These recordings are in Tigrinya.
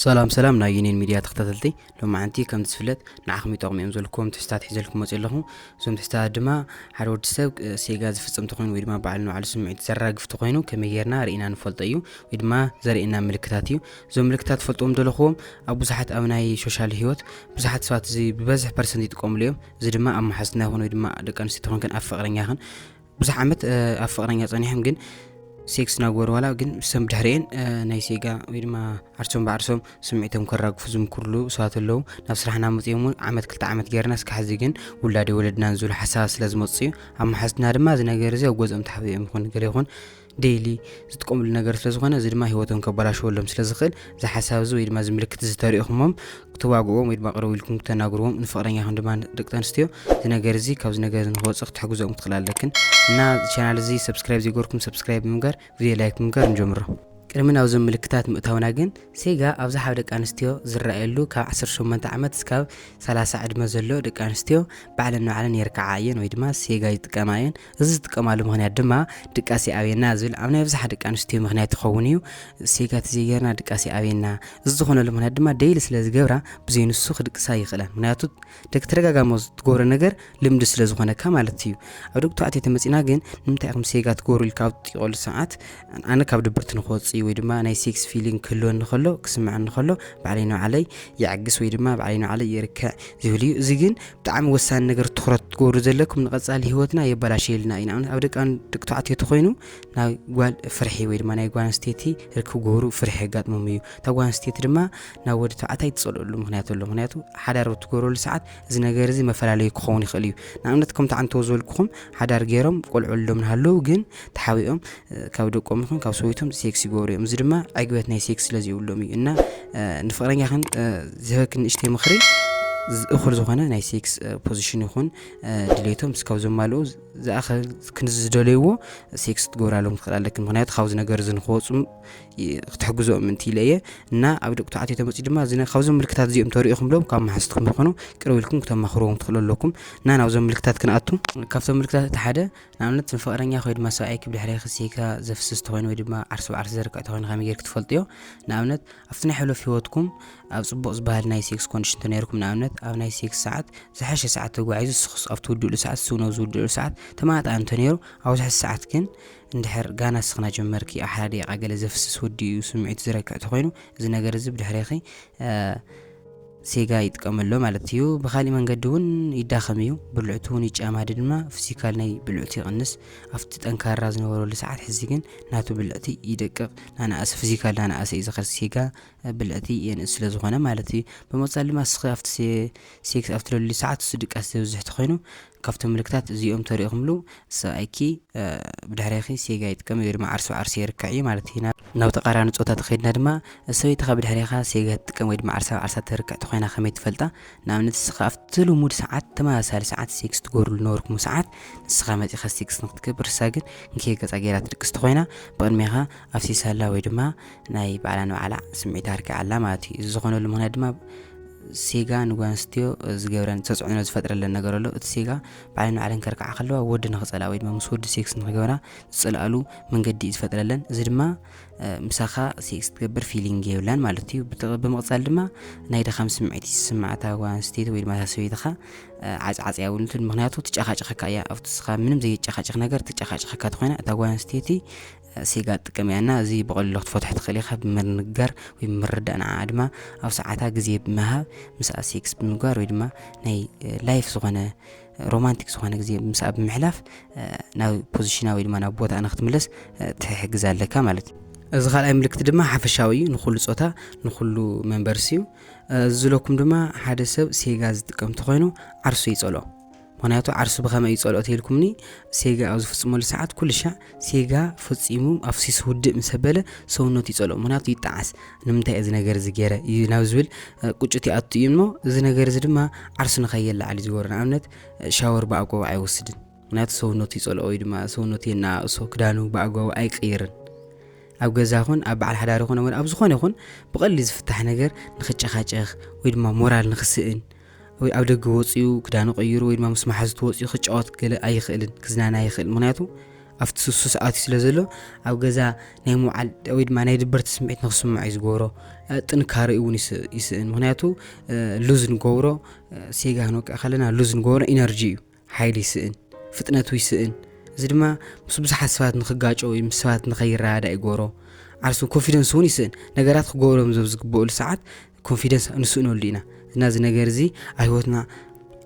ሰላም ሰላም ናይ ዩኒየን ሚድያ ተኸታተልቲ ሎማዓንቲ ከምቲ ዝፍለጥ ንዓኹም ይጠቕሙ እዮም ዘልኩዎም ትሕዝታት ሒዘልኩም ክመፅ ኣለኹ እዞም ትሕዝታት ድማ ሓደ ወዲ ሰብ ሴጋ ዝፍፅም ተኾይኑ ወይ ድማ በዓል ንባዕሉ ስምዒት ዘራግፍ ተኾይኑ ከመይ ጌርና ርኢና ንፈልጦ እዩ ወይ ድማ ዘርእየና ምልክታት እዩ እዞም ምልክታት ትፈልጥዎም ዘለኹዎም ኣብ ብዙሓት ኣብ ናይ ሶሻል ህይወት ብዙሓት ሰባት እዚ ብበዝሒ ፐርሰንት ይጥቀምሉ እዮም እዚ ድማ ኣብ መሓዝትና ይኹን ወይ ድማ ደቂ ኣንስትዮ ተኾንክን ኣብ ፍቕረኛኽን ብዙሕ ዓመት ኣብ ፍቕረኛ ጸኒሖም ግን ሴክስ ናግበሩ ዋላ ግን ሰም ድሕሪኤን ናይ ሴጋ ወይ ድማ ዓርሶም ብዓርሶም ስምዒቶም ከራግፉ ዝምክርሉ ሰባት ኣለዉ ናብ ስራሕና መፅኦም እውን ዓመት ክልተ ዓመት ገይርና እስካ ሕዚ ግን ውላደ ወለድናን ዝብሉ ሓሳባት ስለ ዝመፅኡ ኣብ መሓዝትና ድማ እዚ ነገር እዚ ኣብ ገዝኦም ተሓቢኦም ይኹን ገለ ይኹን ዴይሊ ዝጥቀምሉ ነገር ስለ ዝኾነ እዚ ድማ ሂወቶም ከበላሽወሎም ስለ ዝኽእል እዚ ሓሳብ እዚ ወይ ድማ እዚ ምልክት እዚ ተሪእኹሞም ክትዋግእዎም ወይ ድማ ቅርብ ኢልኩም ክተናግርዎም ንፍቕረኛኹም ድማ ደቂ ኣንስትዮ እዚ ነገር እዚ ካብዚ ነገር እዚ ንክወፅእ ክትሕግዞኦም ክትኽእል ኣለክን እና ቻናል እዚ ሰብስክራይብ ዘይገርኩም ሰብስክራይብ ብምግባር ቪድዮ ላይክ ብምግባር ንጀምሮ ቅድሚ ናብዞም ምልክታት ምእታውና ግን ሴጋ ኣብዚ ሓብ ደቂ ኣንስትዮ ዝረኣየሉ ካብ 18 ዓመት እስካብ 30 ዕድመ ዘሎ ደቂ ኣንስትዮ ባዕለን ንባዕለን የርክዓ እየን ወይ ድማ ሴጋ ይጥቀማ እየን እዚ ዝጥቀማሉ ምኽንያት ድማ ድቃስ ይኣብየና ዝብል ኣብ ናይ ኣብዝሓ ደቂ ኣንስትዮ ምኽንያት ይኸውን እዩ። ሴጋ ተዘይገርና ድቃስ ይኣብየና። እዚ ዝኾነሉ ምኽንያት ድማ ደይሊ ስለ ዝገብራ ብዘይ ንሱ ክድቅሳ ኣይኽእላን። ምኽንያቱ ደቂ ተደጋጋሚ ዝትገብሮ ነገር ልምዲ ስለ ዝኾነካ ማለት እዩ። ኣብ ደቂ ተባዕትዮ ተመጺና ግን ንምንታይ ኢኹም ሴጋ ትገብሩ ኢልካ ኣብ ትጥይቐሉ ሰዓት ኣነ ካብ ድብርቲ ንክወጽእ ወይ ድማ ናይ ሴክስ ፊሊንግ ክህልወኒ ከሎ ክስምዐኒ ከሎ ባዕለይ ንባዕለይ ይዕግስ ወይ ድማ ባዕለይ ንባዕለይ ይርክዕ ዝብል እዩ። እዚ ግን ብጣዕሚ ወሳኒ ነገር ትኩረት ትገብሩ ዘለኩም ንቀጻሊ ህይወትና የበላሸየልና እዩ ንኣብነት ኣብ ደቂ ደቂ ተባዕትዮ ተኮይኑ ናይ ጓል ፍርሒ ወይ ድማ ናይ ጓል ኣንስተይቲ ርክብ ግብሩ ፍርሒ የጋጥሞም እዩ እታ ጓል ኣንስተይቲ ድማ ናብ ወዲ ተባዕታይ ትጸልኦሉ ምክንያት ኣሎ ምክንያቱ ሓዳር ትገብረሉ ሰዓት እዚ ነገር እዚ መፈላለዩ ክኸውን ይኽእል እዩ ንኣብነት ከምቲ ዓንተዎ ዝበልኩኹም ሓዳር ገይሮም ቆልዑ ሎም ንሃለዉ ግን ተሓቢኦም ካብ ደቆም ይኹን ካብ ሰበይቶም ሴክስ ይገብሩ እዮም እዚ ድማ ዕግበት ናይ ሴክስ ስለ ዘይብሎም እዩ እና ንፍቕረኛኽን ዝህበክን ንእሽተይ ምኽሪ እኹል ዝኾነ ናይ ሴክስ ፖዚሽን ይኹን ድሌቶም እስካብ ዘማልኡ ዝኣኸል ክንዚ ዝደለይዎ ሴክስ ክትገብራሎም ትኽእል ኣለኪ ምክንያቱ ካብዚ ነገር እዚ ንክወፁ ክትሕግዞኦም ምንቲ ኢለ እየ እና ኣብ ደቂ ተባዕትዮ ተመፅኡ ድማ ካብዞም ምልክታት እዚኦም ተሪኢኹም ብሎም ካብ መሓዝትኩም ይኾኑ ቅርብ ኢልኩም ክተማኽርዎም ትኽእሉ ኣለኩም እና ናብዞም ምልክታት ክንኣቱ ካብቶም ምልክታት እቲ ሓደ ንኣብነት ንፍቕረኛኺ ወይ ድማ ሰብኣይኪ ብድሕሬኺ ስሒትካ ዘፍስስ ተኾይኑ ወይ ድማ ዓርሲ ብዓርሲ ዘርቅዕ ተኾይኑ ከመይ ጌርኪ ትፈልጥዮ? ንኣብነት ኣብቲ ናይ ሕሉፍ ህይወትኩም ኣብ ጽቡቕ ዝበሃል ናይ ሴክስ ኮንዲሽን ተነይርኩም ንኣብነት ኣብ ናይ ሴክስ ሰዓት ዝሓሸ ሰዓት ተጓዒዙ ንስኽስ ኣብ ትውድእሉ ሰዓት ንሱ እውን ኣብ ዝውድእሉ ሰዓት ተመጣጣኒ እንተነይሩ ኣብ ዝሕስ ሰዓት ግን እንድሕር ጋና ስኽና ጀመርኪ ኣብ ሓደ ደቂቓ ገለ ዘፍስስ ወዲኡ ስምዒቱ ዝረክዕ ተኾይኑ እዚ ነገር እዚ ብድሕሬኺ ሴጋ ይጥቀም ኣሎ ማለት እዩ። ብኻሊእ መንገዲ እውን ይዳኸም እዩ። ብልዕቱ እውን ይጫማዲ ድማ ፍሲካል ናይ ብልዕቱ ይቕንስ። ኣብቲ ጠንካራ ዝነበረሉ ሰዓት ሕዚ ግን ናቱ ብልዕቲ ይደቅቕ። ናናኣሰ ፍሲካል ናናኣሰ እዩ ዝኸድ ሴጋ ብልዕቲ የንእስ ስለ ዝኾነ ማለት እዩ። ብመቕጻል ድማ ስኺ ኣብቲ ሴክስ ኣብትለሉ ሰዓት እሱ ድቃስ ዘብዝሕ ተኾይኑ ካብቶም ምልክታት እዚኦም ተሪእኹምሉ ሰብኣይኪ ብድሕሬኺ ሴጋ ይጥቀም ወይ ድማ ዓርሱ ዓርሱ የርክዕ እዩ ማለት እዩ። ናብ ተቃራኒ ጾታ ተኸይድና ድማ ሰበይትኻ ብድሕሬኻ ሴጋ ትጥቀም ወይ ድማ ዓርሳ ዓርሳ ተርክዕ ተኾይና ከመይ ትፈልጣ? ንኣብነት ንስኻ ኣብቲ ልሙድ ሰዓት ተመሳሳሊ ሰዓት ሴክስ ትገብርሉ ነበርኩም ሰዓት ንስኻ መጺኻ ሴክስ ንክትገብር ንሳ ግን ንከይ ገጻ ገይራ ትድቅስ ተኾይና ብቅድሜኻ ኣፍሲሳላ ወይ ድማ ናይ ባዕላ ንባዕላ ስምዒት ኣርኪ ኣላ ማለት እዩ እዚ ዝኾነሉ ምክንያት ድማ ሴጋ ንጓንስትዮ ዝገብረን ተፅዕኖ ዝፈጥረለን ነገር ኣሎ እቲ ሴጋ ባዕለን ንባዕለን ከርክዓ ከለዋ ወዲ ንክፀልኣ ወይ ድማ ምስ ወዲ ሴክስ ንክገብራ ዝፅልኣሉ መንገዲ እዩ ዝፈጥረለን እዚ ድማ ምሳኻ ሴክስ ትገብር ፊሊንግ የብላን ማለት እዩ ብምቕፃል ድማ ናይ ድኻም ስምዒት ዝስማዕታ ጓንስተይቲ ወይ ድማ ሰበይትኻ ዓፅዓፅ ያውንትን ምክንያቱ ትጨኻጨኸካ እያ ኣብቲ ስኻ ምንም ዘይጨኻጨኽ ነገር ትጨኻጨኸካ ትኾይና እታ ጓንስተይቲ ሲጋ ትጥቀም እያ እና እዚ ብቐሊሉ ክትፈትሖ ትኽእል ኢኻ ብምንጋር ወይ ብምርዳእ ንዓኣ ድማ ኣብ ሰዓታ ግዜ ብምሃብ ምስኣ ሴክስ ብምግባር ወይ ድማ ናይ ላይፍ ዝኾነ ሮማንቲክ ዝኾነ ግዜ ምስኣ ብምሕላፍ ናብ ፖዚሽና ወይ ድማ ናብ ቦታ ንክትምለስ ትሕግዝ ኣለካ ማለት እዩ እዚ ካልኣይ ምልክት ድማ ሓፈሻዊ እዩ ንኩሉ ፆታ ንኩሉ መንበርሲ እዩ ዝለኩም ድማ ሓደ ሰብ ሴጋ ዝጥቀም ተኮይኑ ዓርሱ ይፀልኦ ምኽንያቱ ዓርሱ ብኸመይ እዩ ጸልኦ ተይልኩምኒ ሴጋ ኣብ ዝፍጽመሉ ሰዓት ኩልሻዕ ሴጋ ፈጺሙ ኣፍሲሱ ውድእ ምስ ኣበለ ሰውነቱ ይጸልኦ ምኽንያቱ ይጠዓስ ንምንታይ እየ እዚ ነገር እዚ ገይረ እዩ ናብ ዝብል ቁጭት ይኣቱ እዩ እሞ እዚ ነገር እዚ ድማ ዓርሱ ንኸየለዓል እዩ ዝገብሮ ንኣብነት ሻወር ብኣግባቡ ኣይወስድን ምክንያቱ ሰውነቱ ይጸልኦ ወይ ድማ ሰውነቱ የናእሶ ክዳኑ ብኣግባቡ ኣይቅይርን ኣብ ገዛ ኹን ኣብ በዓል ሓዳሪ ኹን ኣብ ዝኾነ ይኹን ብቐሊል ዝፍታሕ ነገር ንክጨኻጨኽ ወይ ድማ ሞራል ንክስእን ወይ ኣብ ደገ ወጺኡ ክዳኑ ቀይሩ ወይ ድማ ምስ መሓዝቱ ወጺኡ ክጫወት ገለ ኣይኽእልን ክዝናነ ኣይኽእል ምክንያቱ ኣብቲ ሱሱስ ኣትዩ ስለ ዘሎ ኣብ ገዛ ናይ ምውዓል ወይ ድማ ናይ ድበርቲ ስምዒት ንክስምዖ እዩ ዝገብሮ ጥንካሬ እውን ይስእን ምክንያቱ ሉዝ ንገብሮ ሴጋ ክንወቅዕ ከለና ሉዝ ንገብሮ ኢነርጂ እዩ ሓይሊ ይስእን፣ ፍጥነቱ ይስእን፣ እዚ ድማ ምስ ብዙሓት ሰባት ንኽጋጮ ወይ ምስ ሰባት ንኸይረዳዳእ ይገብሮ፣ ዓርሱ ኮንፊደንሱ እውን ይስእን፣ ነገራት ክገብሮም እዞም ዝግበኡሉ ሰዓት ኮንፊደንስ ንስእነሉ ኢና፣ እና እዚ ነገር እዚ ኣብ ህይወትና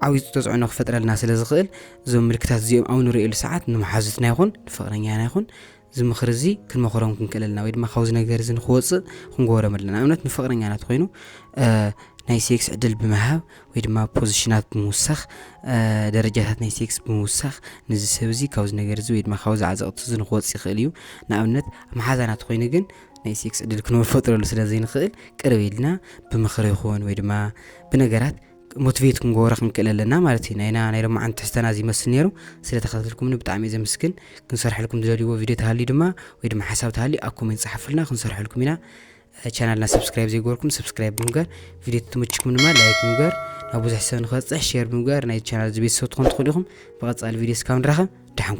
ዓብዩ ተፅዕኖ ክፈጥረልና ስለ ዝኽእል እዞም ምልክታት እዚኦም ኣብ ንርእየሉ ሰዓት ንመሓዙትና ይኹን ንፍቕረኛና ይኹን እዚ ምኽሪ እዚ ክንመኽሮም ክንክእል ኣለና ወይ ድማ ካብዚ ነገር እዚ ንክወፅእ ክንገበሮም ኣለና ንኣብነት ንፍቕረኛና ትኮይኑ ናይ ሴክስ ዕድል ብምሃብ ወይ ድማ ፖዚሽናት ብምውሳኽ ደረጃታት ናይ ሴክስ ብምውሳኽ ንዚ ሰብ እዚ ካብዚ ነገር እዚ ወይ ድማ ካብዚ ዓዘቕቲ እዚ ንክወፅ ይኽእል እዩ ንኣብነት መሓዛና ትኮይኑ ግን ናይ ሴክስ ዕድል ክንፈጥረሉ ስለ ዘይንኽእል ቅርብ ኢልና ብምኽሪ ይኹን ወይ ድማ ብነገራት ሞትቬት ክንገብሮ ክንክእል ኣለና ማለት እዩ ናይና ናይ ሎማዓንቲ ትሕዝተና እዚ ይመስል ነይሩ ስለ ተኸታተልኩምኒ ብጣዕሚ እየ ዘምስግን ክንሰርሐልኩም ዝደልይዎ ቪድዮ ተሃልዩ ድማ ወይ ድማ ሓሳብ ተሃልዩ ኣብ ኮሜንት ጸሓፉልና ክንሰርሐልኩም ኢና ቻናልና ሰብስክራይብ ዘይገበርኩም ሰብስክራይብ ብምግባር ቪድዮ ትምችኩም ድማ ላይክ ብምግባር ናብ ብዙሕ ሰብ ንክበፅሕ ሼር ብምግባር ናይ ቻናል እዚ ቤተሰብ ትኾኑ ትኽእሉ ኢኹም ብቐፃሊ ቪድዮ እስካብ ንራኸብ ደሓንኩም